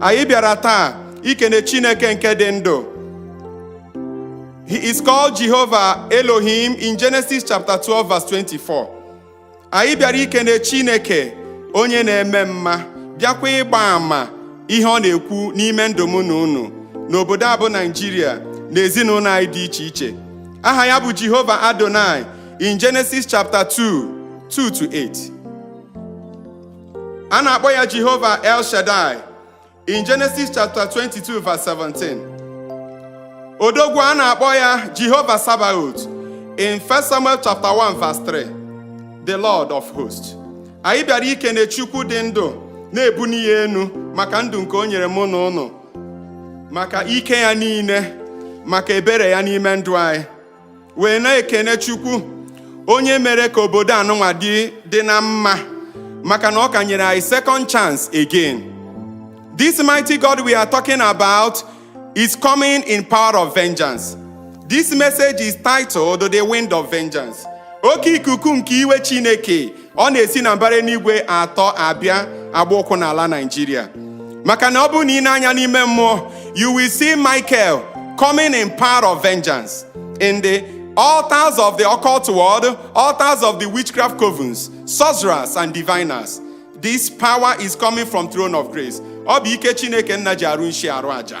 anyị bịara taa ikene Chineke nke dị ndụ he is called Jehovah Elohim in Genesis chapter 12 verse 24 anyị bịara ikene Chineke onye na-eme mma bịakwa ịgba ama ihe ọ na-ekwu n'ime ndụ mụ na unu n'obodo a bụ Naijiria na ezinụnọ anyị dị iche iche aha ya bụ Jehova Adonai in Genesis chapter 2 2 to 8 a na-akpọ ya Jehova El Shaddai in Genesis chapter 22 verse 17 odogwu a na-akpọ ya Jehova Sabaoth in 1 Samuel chapter 1 verse 3 the Lord of hosts anyị bịara ikene Chukwu dị ndụ na-ebuni ya enu maka ndụ nke o nyere mụ na unu maka ike ya niile maka ebere ya n'ime ndụ anyị wee na-ekene Chukwu onye mere ka obodo anụnwa dị dị na mma maka na ọ ka nyere anyị second chance again this mighty God we are talking about is coming in power of vengeance this message is titled the wind of vengeance oke ikuku nke iwe Chineke ọ na-esi na mbara enuigwe atọ abịa agba ụkwụ n'ala Naịjirịa maka na ọ bụrụ na i nee anya n'ime mmụọ you will see Michael coming in power of vengeance in the altars of the occult world, altars of the witchcraft covens, sorcerers and diviners. This power is coming from throne of grace. Ọ bụ ike Chineke nna ji arụ nshi arụ aja.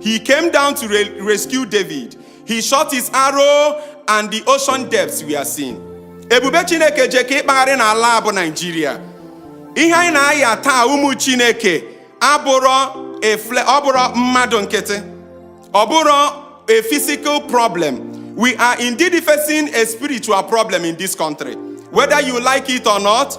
He came down to re rescue David. He shot his arrow and the ocean depths were seen. Ebube Chineke je ka ịkpagharị n'ala a bụ Naijiria. Ihe anyị na-aya taa ụmụ Chineke abụrọ efle ọ bụrọ mmadụ nkịtị. Ọ bụrọ a physical problem. We are indeed facing a spiritual problem in this country. Whether you like it or not,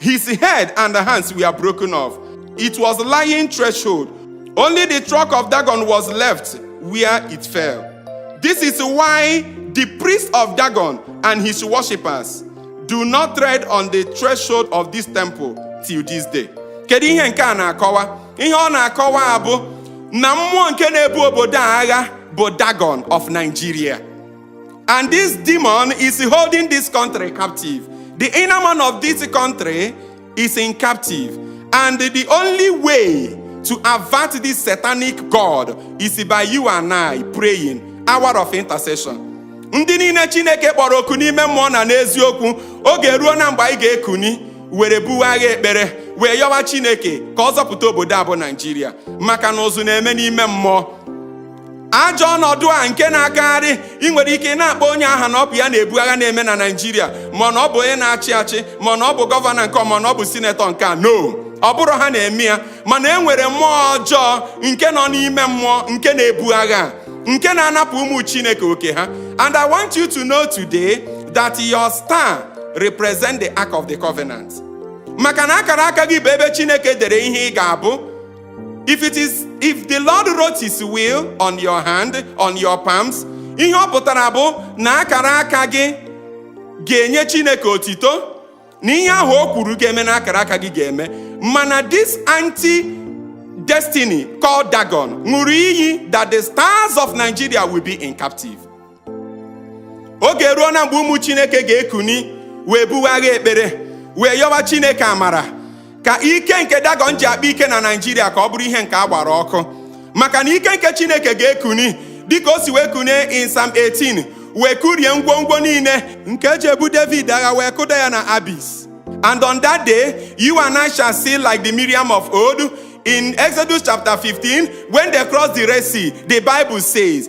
His head and hands were broken off. It was lying threshold. Only the trunk of Dagon was left where it fell. This is why the priest of Dagon and his worshippers do not tread on the threshold of this temple till this day. Kedu ihe nke a na-akọwa? Ihe ọ na-akọwa abụ na mmụọ nke na-ebu obodo a agha bụ Dagon of Nigeria. And this demon is holding this country captive. The inner man of this country is in captive. And the only way to avert this satanic God is by you and I praying, hour of intercession. Ndị niile Chineke kpọrọ oku n'ime mmụọ na n'eziokwu, oge eruona mgbe anyị ga-ekuni were buwe agha ekpere wee yọwa Chineke ka ọ zọpụta obodo a bụ Naijiria maka na ụzụ na-eme n'ime mmụọ ajọ ọnọdụ a nke na-agagharị ị nwere ike na-akpọ onye aha na ọ bụ ya na-ebu agha na-eme na Naịjirịa ma na ọ bụ onye na-achị achị ma na ọ bụ gọvanọ nke ma na ọ bụ sinetọ nke a no ọ bụrọ ha na-eme ya mana e nwere mmụọ ọjọọ nke nọ n'ime mmụọ nke na-ebu agha nke na-anapụ ụmụ Chineke oke ha and I want you to know today that your star represent the ark of the covenant maka na akara aka gị bụ ebe Chineke dere ihe ị ga-abụ if it is if the lord wrote his will on your hand on your palms ihe ọ pụtara bụ na akara aka gị ga-enye chineke otito na ihe ahụ o kwuru ga-eme na akara aka gị ga-eme mana this anti destiny called dagon ṅụrụ iyi that the stars of nigeria will be in captive oge eruona mgbe ụmụ chineke ga-ekuni wee buwe agha ekpere wee yọwa chineke amara ka ike nke dagon ji akpa ike na Naịjirịa ka ọ bụrụ ihe nke a gbara ọkụ maka na ike nke chineke ga-ekuni dịka o si wee kunie in Psalm 18 wee kurie ngwongwo niile nke e ji ebu david agha wee kụda ya na abyss and on that day you and I shall sing like the Miriam of old in Exodus chapter 15 when they crossed the Red Sea the Bible says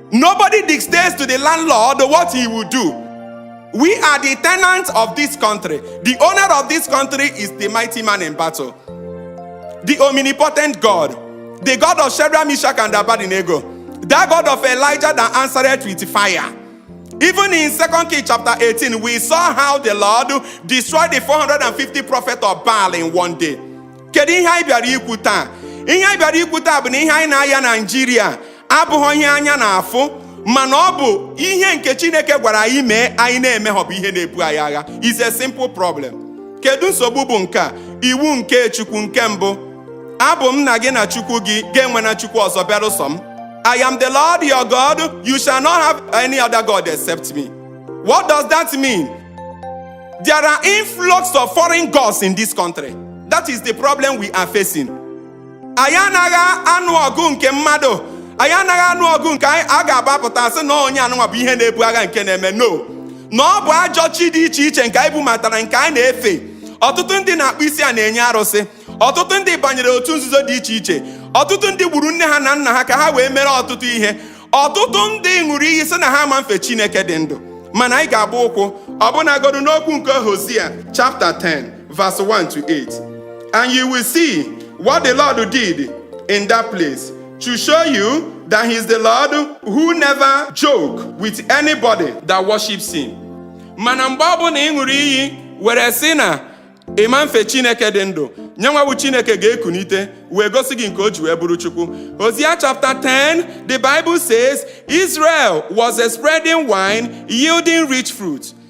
Nobody dictates to the landlord what he will do. We are the tenants of this country. The owner of this country is the mighty man in battle, the omnipotent God, the God of Shadrach, Meshach, and Abednego, that God of Elijah that answered with fire. Even in Second Kings chapter 18, we saw how the Lord destroyed the 450 prophets of Baal in one day. Kedu ihe anyị bịara ikwu taa? Ihe anyị bịara ikwu taa bụ na ihe anyị na-aya Naijiria abụhọ ihe anya na-afụ mana ọ bụ ihe nke chineke gwara anyị mee anyị na-emehọ bụ ihe na-ebu anyị agha is a simple problem kedu nsogbu bụ nke a iwu nke chukwu nke mbụ abụ m nna gị na chukwu gị gị enwena chukwu ọzọ beerụ sọ m I am the Lord your God, you shall not have any other God except me. What does that mean? There are influx of foreign gods in this country. That is the problem we are facing. anyị anaghị anụ ọgụ nke mmadụ anyị anaghị anụ ọgụ nke a ga-agbapụta sị na onye anụnwa bụ ihe na-ebu agha nke na-eme no na ọ bụ ajọ chi dị iche iche nke anyị bubatara nke anyị na-efe ọtụtụ ndị na-akpọ isi ana enye arụsị ọtụtụ ndị banyere otu nzuzo dị iche iche ọtụtụ ndị gburu nne ha na nna ha ka ha wee mere ọtụtụ ihe ọtụtụ ndị ṅụrụ iyi sị na ha ma mfe Chineke dị ndụ mana anyị ga-agba ụkwụ ọbụnagodu n'okwu nke Hosea chapta 10 verse 1 to 8. And you will see what the Lord did in that place to show you that He's the Lord who never joke with anybody that worships Him. Mana mgbe ọ bụla ị ṅụrụ iyi were sị na ị ma mfe Chineke dị ndụ nyenwa bụ Chineke ga-ekunite wee gosi gị nke o ji wee bụrụ Chukwu. Hosea chapter 10, the Bible says Israel was a spreading vine yielding rich fruit.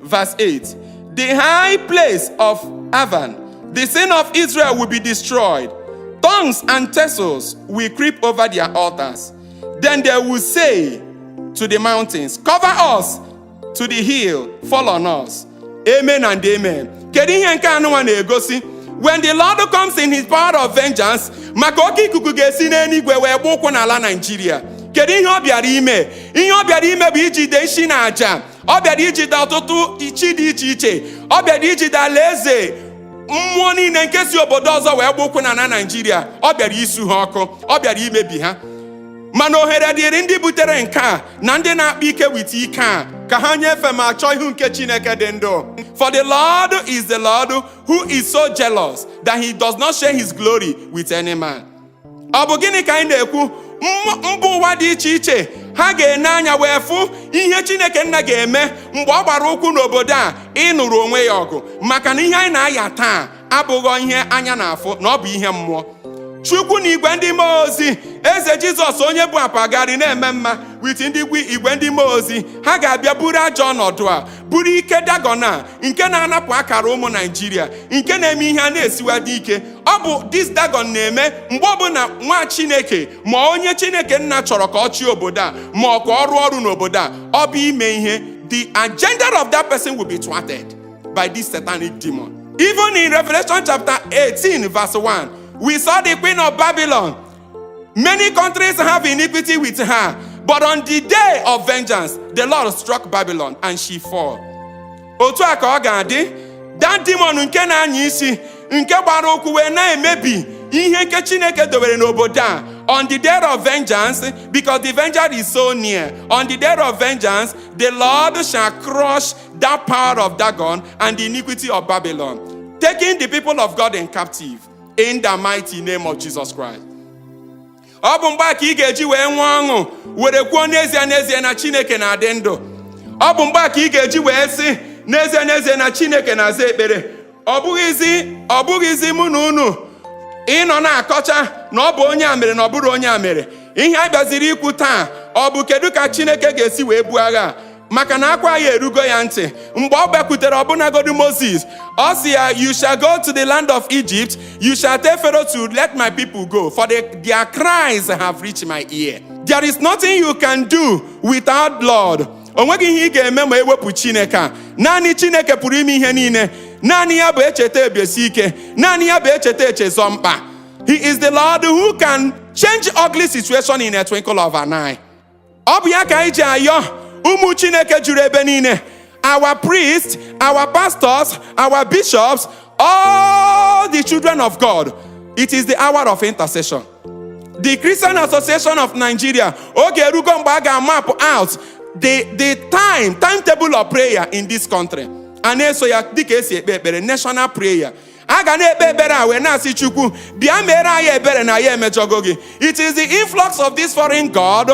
Verse 8 The high place of Aven, the sin of Israel will be destroyed. Thorns and thistles will creep over their altars. Then they will say to the mountains, Cover us, to the hill, fall on us. Amen and amen. Kedu ihe nke a nụnwa na-egosi? When the Lord comes in his power of vengeance, maka oke ikuku ga-esi n'eluigwe wee gba ụkwụ n'ala Naijiria. Kedu ihe ọ bịara ime? Ihe ọ bịara ime bụ ijide nsi na aja ọ bịara ijide ọtụtụ chi dị iche iche ọ bịara ijide alaeze mmụọ niile nke si obodo ọzọ wee gba ụkwụ n'ana naijiria ọ bịara isu ha ọkụ ọ bịara imebi ha mana ohere dịịrị ndị butere nke a na ndị na-akpa ike wit ike a ka ha nyefe ma chọọ ihu nke chineke dị ndụ for the lord is the lord who is so jealous that he does not share his glory with any man ọ bụ gịnị ka anyị na-ekwu mba ụwa dị iche iche ha ga-ene anya wee fụ ihe chineke nna ga-eme mgbe ọ gbara ụkwụ n'obodo a ịnụrụ onwe ya ọgụ maka na ihe anyị na-aya taa abụghọ ihe anya na-afụ na ọ bụ ihe mmụọ chukwu na igwe ndị mmụọ ozi eze jizọs onye bụ akpagharị na-eme mma wit ndị igwe ndị mmụọ ozi ha ga-abịa buru ajọ ọnọdụ a buru ike dagon a nke na-anapụ akara ụmụ naijiria nke na-eme ihe a na-esiwa dị ike ọ bụ this dagon na-eme mgbe ọbụla nwa chineke ma onye chineke nna chọrọ ka ọ chịa obodo a ma ọ ka ọ rụọ ọrụ n'obodo a ọ bụ ime ihe the agenda of that person will be thwarted by this satanic demon even in revelation chapter 18 verse 1 we saw the queen of babylon Many countries have iniquity with her, but on the day of vengeance, the Lord struck Babylon and she fall. Otu a ka ọ ga-adị that demon nke na-anya isi nke gbara ụkwụ wee na-emebi ihe nke Chineke dobere n'obodo a on the day of vengeance because the vengeance is so near on the day of vengeance the Lord shall crush that power of Dagon and the iniquity of Babylon taking the people of God in captive in the mighty name of Jesus Christ ọ bụ mgbe a ka ị ga-eji wee nwee ọṅụ were kwuo n'ezie n'ezie na Chineke na-adị ndụ ọ bụ mgbe a ka ị ga-eji wee sị n'ezie n'ezie na Chineke na-aza ekpere ọ bụghịzi ọ bụghịzi mụ na unu ịnọ na-akọcha na ọ bụ onye a mere na ọ bụrụ onye a mere ihe a bịaziri ikwu taa ọ bụ kedu ka Chineke ga-esi wee buo agha a? maka na akwa anyị erugo ya ntị mgbe ọ bịakwutere ọbụnagodi moses ọ sị ya you shall go to the land of egypt you shall tell pharaoh to let my people go for the, their cries have reached my ear there is nothing you can do without the lord o nweghị ihe ị ga-eme ma ewepụ chineke a naanị chineke pụrụ ime ihe niile naanị ya bụ echeta ebiesi ike naanị ya bụ echeta echezọ mkpa he is the lord who can change ugly situation in a twinkle of an eye ọ bụ ya ka anyị ji ayọ ụmụ chineke juru ebe niile our priests our pastors our bishops all the children of god it is the hour of intercession the christian association of nigeria oge erugo mgbe a ga-map out the the time timetable of prayer in this country a na-eso ya dịka esi ekpe ekpere national prayer a ga na-ekpe ekpere a wee na-asị chukwu bịa mere anyị ebere na anyị emejọgo gị it is the influx of this foreign god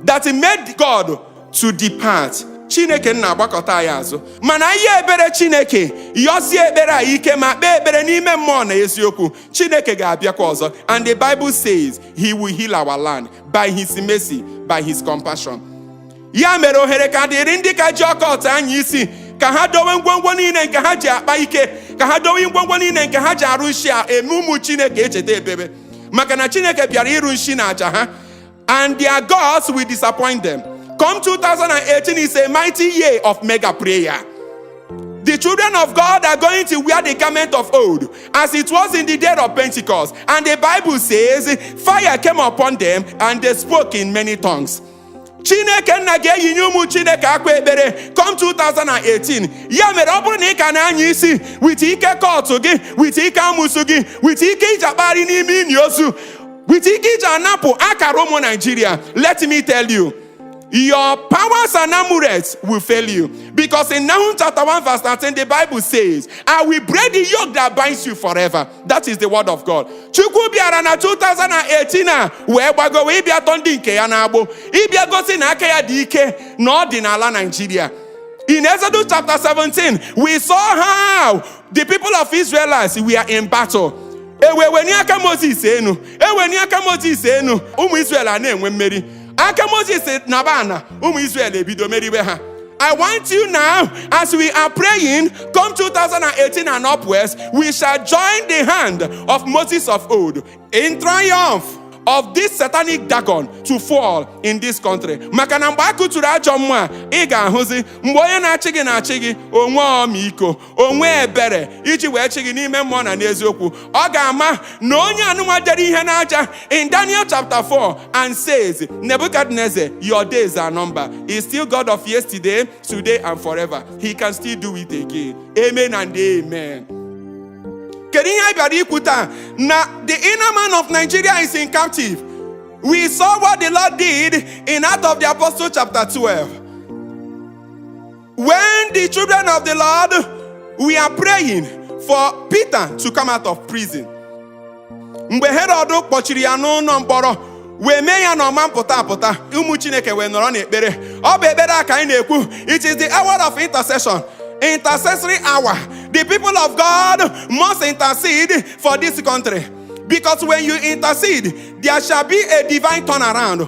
that made god to depart chineke nna agbakụta anyị azụ mana ihe ebere chineke yọsie ekpere a ike ma kpee ekpere n'ime mmụọ na eziokwu chineke ga-abịakwa ọzọ and the bible says he will heal our land by his mercy by his compassion ya mere ohere ka dịrị ndị ka ji occult anya isi ka ha dowe ngwongwo niile nke ha ji akpa ike ka ha dowe ngwongwo niile nke ha ji arụ nshi a eme ụmụ chineke echeta ebebe maka na chineke bịara ịrụ nshi na aja ha and their gods will disappoint them come 2018 is a mighty year of mega prayer The children of God are going to wear the garment of old, as it was in the day of Pentecost. And the Bible says, Fire came upon them, and they spoke in many tongues. chineke nna ga-eyinye ụmụ chineke akwa ekpere come 2018 ya mere ọ bụrụ na ị ka na-anya isi with ike occult gị with ike amụsụ gị with ike i ji akpagharị n'ime ini ozu with ike i ji anapụ akara ụmụ naijiria let me tell you your powers and amulets will fail you because in Nahum 1 13 the bible says i will break the yoke that binds you forever that is the word of god chukwu bịara na 2018 a wee gbagowe ịbịa tọọ ndị nke ya n'agbụ ịbịa gosi na aka ya dị ike na ọ dị n'ala naijiria in exodus chapter 17 we saw how the people of israelites were in battle eweweni aka moses enu eweni aka moses enu ụmụ israel a na-enwe mmeri aka moses naba ana ụmụ israel e bido meriwe ha I want you now, as we are praying, come 2018 and upwards, we shall join the hand of Moses of old in triumph of this satanic dagon to fall in this country maka na mgbe a kụturu ajọ mmụọ a ị ga-ahụzi mgbe onye na-achị gị na-achị gị o nwee ọmịiko o nwee ebere iji wee chịa gị n'ime mmụọ na n'eziokwu ọ ga-ama na onye anụnwa dere ihe n'aja in Daniel chapter 4 and says Nebuchadnezzar your days are number is still God of yesterday today and forever he can still do it again amen and amen kedu ihe anyị bịara ikwu taa na the inner man of Nigeria is in captive we saw what the Lord did in Acts of the Apostle chapter 12 When the children of the Lord were praying for Peter to come out of prison. Mgbe Herod kpọchiri ya n'ụnọ mkpọrọ wee mee ya na ọ ma pụta apụta ụmụ Chineke wee nọrọ n'ekpere ọ bụ ekpere a ka anyị na-ekwu it is the hour of intercession intercessory hour the people of God must intercede for this country because when you intercede there shall be a divine turnaround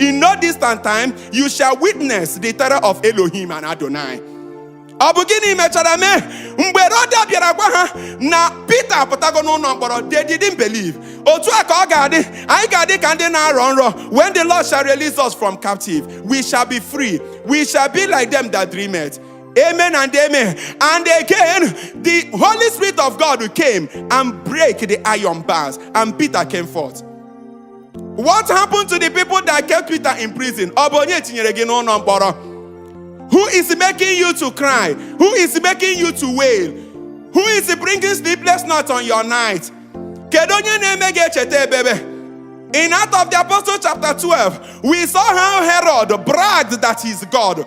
In no distant time, you shall witness the terror of Elohim and Adonai. Ọ bụ gịnị mechara mee mgbe Roda bịara gwa ha na Pita apụtago n'ụnọ mkpọrọ they didn't believe. Otu a ka ọ ga-adị anyị ga-adị ka ndị na-arọ nrọ when the Lord shall release us from captive we shall be free we shall be like them that dreameth. Amen and amen. And again, the Holy Spirit of God came and break the iron bars, and Peter came forth. What happened to the people that kept Peter in prison? Ọ bụ onye tinyere gị n'ụlọ mkpọrọ? Who is making you to cry? Who is making you to wail? Who is bringing sleepless nights on your night? Kedu onye na-eme gị echeta ebebe? In Acts of the Apostle chapter 12, we saw how Herod bragged that he's God.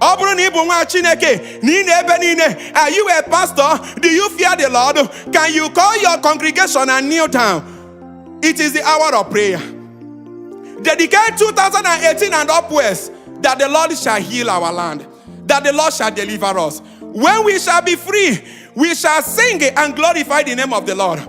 ọ bụrụ na ị bụ nwa chineke na ị na-ebe niile are you a pastor do you fear the lord can you call your congregation and kneel down it is the hour of prayer dedicate 2018 and upwards that the lord shall heal our land that the lord shall deliver us when we shall be free we shall sing and glorify the name of the lord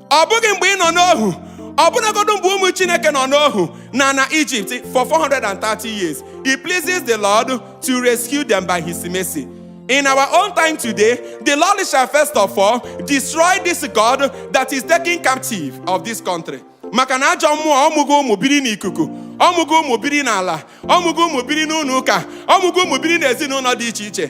ọ bụghị mgbe ị nọ n'ohu ọbụnagodu mgbe ụmụ chineke nọ n'ohu n'ana ijipt for 430 years it pleases the lord to rescue them by his mercy in our own time today the lord shall first of all destroy this god that is taking captive of this country maka na ajọ mmụọ ọ mụgo ụmụ biri n'ikuku ọ mụgo ụmụ biri n'ala ọ mụgo ụmụ biri n'ụnọ ụka ọ mụgo ụmụ biri n'ezinụnọ dị iche iche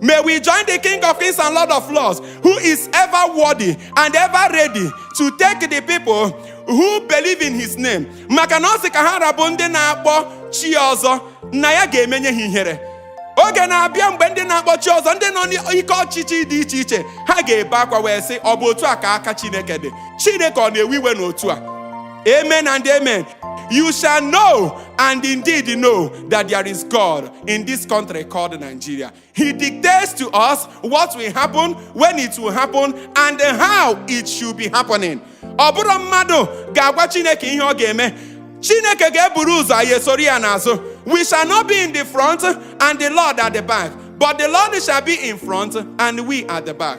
May we join the King of Kings and Lord of Lords, who is ever worthy and ever ready to take the people who believe in his name. Maka na ọ sị ka ha ra bụ ndị na-akpọ chi ọzọ na ya ga-emenye ha ihere. Oge na-abịa mgbe ndị na-akpọ chi ọzọ ndị nọ n'ike ọchịchị dị iche iche ha ga-ebe akwa wee sị ọ bụ otu a ka aka Chineke dị. Chineke ọ na-ewe iwe n'otu a. Amen and amen. You shall know and indeed know that there is God in this country called Nigeria. He dictates to us what will happen, when it will happen, and how it should be happening. Ọ bụrọ mmadụ ga-agwa Chineke ihe ọ ga-eme. Chineke ga-eburu ụzọ anyị esoro ya n'azụ. We shall not be in the front and the Lord at the back, but the Lord shall be in front and we at the back.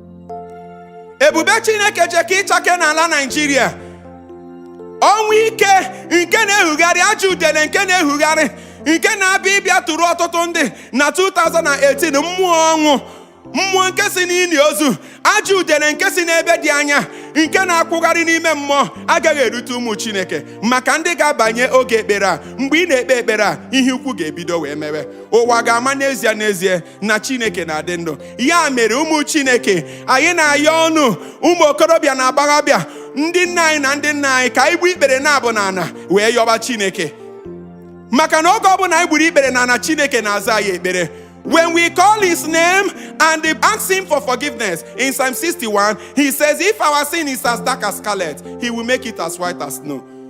ebube chineke jekọ ịchake n'ala naijiria ọnwụ ike nke na-ehugharị ajọ udele nke na-ehugharị nke na-abịa ịbịa tụrụ ọtụtụ ndị na 2018 mmụọ ọnwụ mmụọ nke si n'ini ozu ajọ udele nke si n'ebe dị anya nke na-akwụgharị n'ime mmụọ agaghị elute ụmụ chineke maka ndị ga-abanye oge ekpere a mgbe ị na-ekpe ekpere a ihe ukwu ga-ebido wee mewe ụwa ga-ama n'ezie n'ezie na chineke na-adị ndụ ya mere ụmụ chineke anyị na-ayọ unu ụmụ okorobịa na agbọghọbịa ndị nna anyị na ndị nna anyị ka anyị gbuo ikpere naabọ na ana wee yọba chineke maka na oge ọbụla anyị gburu ikpere na ana chineke na-aza anyị ekpere When we call his name and ask him for forgiveness in Psalm 61, he says, If our sin is as dark as scarlet, he will make it as white as snow.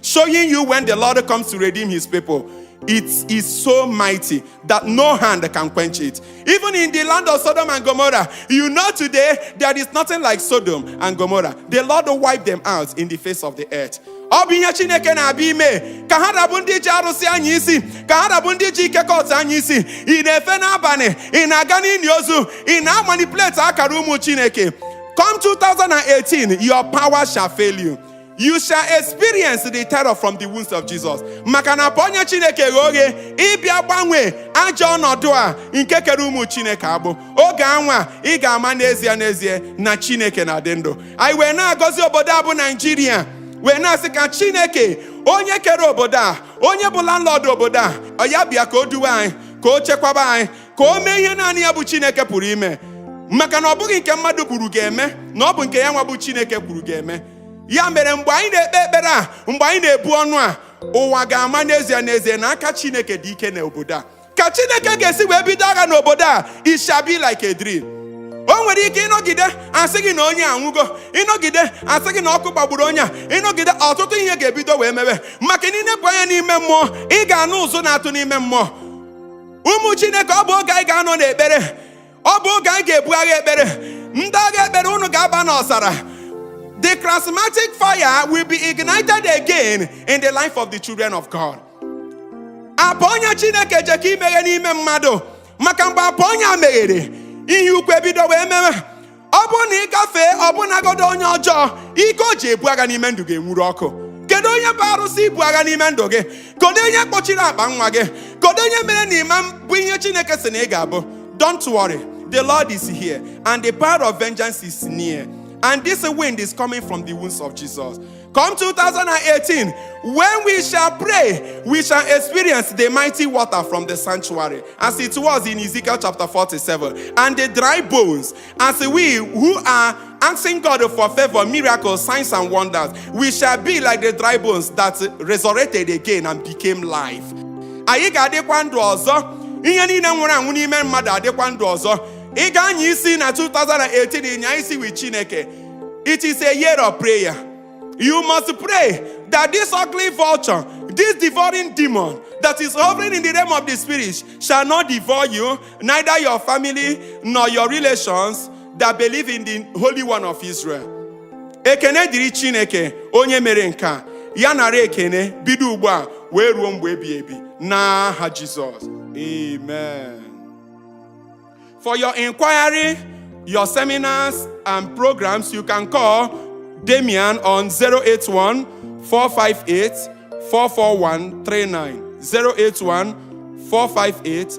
Showing you when the Lord comes to redeem his people, it is so mighty that no hand can quench it. Even in the land of Sodom and Gomorrah, you know today there is nothing like Sodom and Gomorrah. The Lord wiped them out in the face of the earth. ọ bụ ihe chineke na-abịa ime ka ha ra bụ ndị ji arụsị anya isi ka ha ra bụ ndị ji ike cult anya isi ị na-efe n'abalị ị na-aga n'ili ozu ị na-amanipulate akara ụmụ chineke come 2018 your power shall fail you you shall experience the terror from the wounds of Jesus maka na apụ ọnya Chineke ghe oghe ịbịa gbanwee ajọ ọnọdụ a nke kere ụmụ Chineke agbụ oge anwa ị ga-ama n'ezie n'ezie na Chineke na-adị ndụ anyị wee na-agọzi obodo a bụ Naijiria wee na-asị ka Chineke onye kere obodo a onye bụ landlord obodo a ọ ya bịa ka o duwe anyị ka o chekwaba anyị ka o mee ihe naanị ya bụ Chineke pụrụ ime maka na ọ bụghị nke mmadụ kwuru ga-eme na ọ bụ nke ya nwa bụ Chineke kwuru ga-eme ya mere mgbe anyị na-ekpe ekpere a mgbe anyị na-ebu ọnụ a ụwa ga-ama n'ezie n'ezie na aka chineke dị ike n'obodo a ka chineke ga-esi wee bido agha n'obodo a it shall be like a dream o nwere ike ị nọgide a sị gị na onye a anwụgo ị nọgide a sị gị na ọkụ gbagburu onye a ị nọgide ọtụtụ ihe ga-ebido wee mebe maka na i nepụ anya n'ime mmụọ ị ga-anụ ụzụ na-atụ n'ime mmụọ ụmụ chineke ọ bụ oge anyị ga-anọ n'ekpere ọ bụ oge anyị ga-ebu agha ekpere ndị agha ekpere unu ga-aba n'ọzara the charismatic fire will be ignited again in the life of the children of God apụ ọnya chineke je ka imeghe n'ime mmadụ maka mgbe apụ ọnya meghere ihe ukwu ebido wee mewe ọ bụrụ na ị gafee ọbụnagodo onye ọjọọ ike o ji ebu agha n'ime ndụ ga-enwuru ọkụ kedu onye bụ arụsị ibu agha n'ime ndụ gị kedu onye kpọchiri akpa nwa gị kedu onye mere na ị ma-abụ ihe chineke sị na ị ga-abụ don't worry the lord is here and the power of vengeance is near and this wind is coming from the wounds of jesus come 2018 when we shall pray we shall experience the mighty water from the sanctuary as it was in ezekiel chapter 47 and the dry bones As we who are asking God for favor, miracles, signs, and wonders, we shall be like the dry bones that resurrected again and became life. Anyị ga-adịkwa ndụ ọzọ, ihe niile nwụrụ anwụ n'ime mmadụ adịkwa ndụ ọzọ. Ị ga-anya isi na 2018 ị nyaa isi with Chineke. It is a year of prayer. You must pray that this ugly vulture, this devouring demon that is hovering in the realm of the spirit shall not devour you neither your family nor your relations that believe in the Holy One of Israel. Ekene dịrị Chineke onye mere nke a ya nara ekene bido ugbu a wee ruo mgbe ebi ebi n'aha Jizọs. Amen. For your inquiry, your seminars and programs, you can call Damian on 081 458 441 39. 081 458